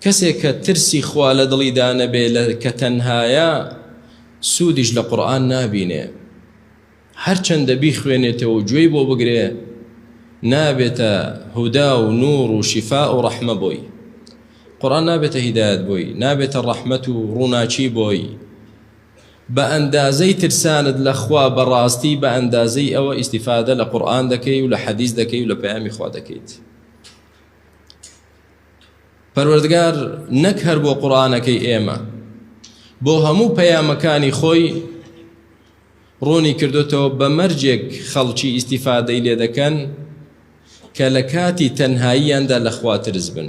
کەسێک کە ترسی خوا لە دڵیدا نەبێ لە کە تەنهایە سوودیش لە قورآن نابینێ هەرچەندە بیخوێنێتەوە و گوێی بۆ بگرێ نابێتە هودا و نور و شیفا و ڕەحمە بۆی قورآن نابێتە هیدایەت بۆی نابێتە ڕەحمەت و ڕووناکی بۆی بە ئەندازەی ترسانت لە خوا بەڕاستی بە ئەندازەی ئەوە ئیسیفادە لە قورآن دەکەی و لە حەدیث دەکەی و لە پەیامی خوا دەکەیت پەروەردگار نەک هەر بۆ قورآانەکەی ئێمە بۆ هەموو پەیامەکانی خۆی ڕوونی کردوتەوە بە مەرجێک خەڵکی ئیسیفادەی لێ دەکەن کە لە کاتی تەنهاییاندا لەخواترز بن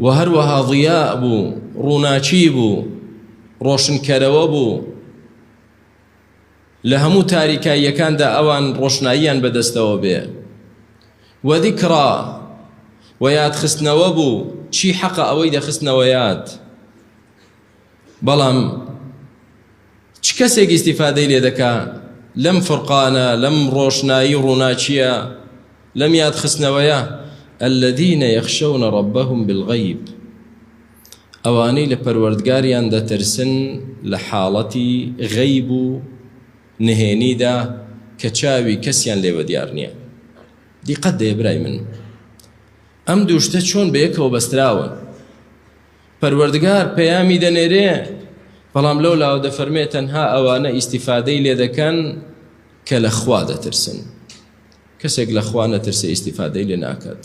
و هەروەها ضیاء بوو ڕووناکی بوو ڕۆشنکەرەوە بوو لە هەموو تاریکاییەکاندا ئەوان ڕۆشناییان بەدەستەوە بێ و ذکرا و یادخستنەوە بوو چی حەقە ئەوەی دەخستنەوە یاد بەڵام چ کەسێک ئیستیفادەی لێ دەکا لەم فرقانە لەم ڕۆشنایی و ڕووناکییە لەم یادخستنەوەیە الذین یخشون ربهم بالغیب ئەوانەی لە پەروەردگاریان دەترسن لە حاڵەتی غەیب و نهێنیدا کە چاوی کەسیان لێوە دیار نییە دیقەت دەیە برای من ئەم دوو شتە چۆن بەیەکەوە بەستراون پەروەردگار پەیامی دەنێرێ، بەڵام لەو لاوە دەفەرمێ تەنها ئەوانە ئیستیفادەی لێ دەکەن کە لە خوا دەترسن، کەسێک لە خوا نەترسێ ئیستیفادەی لێ ناکات.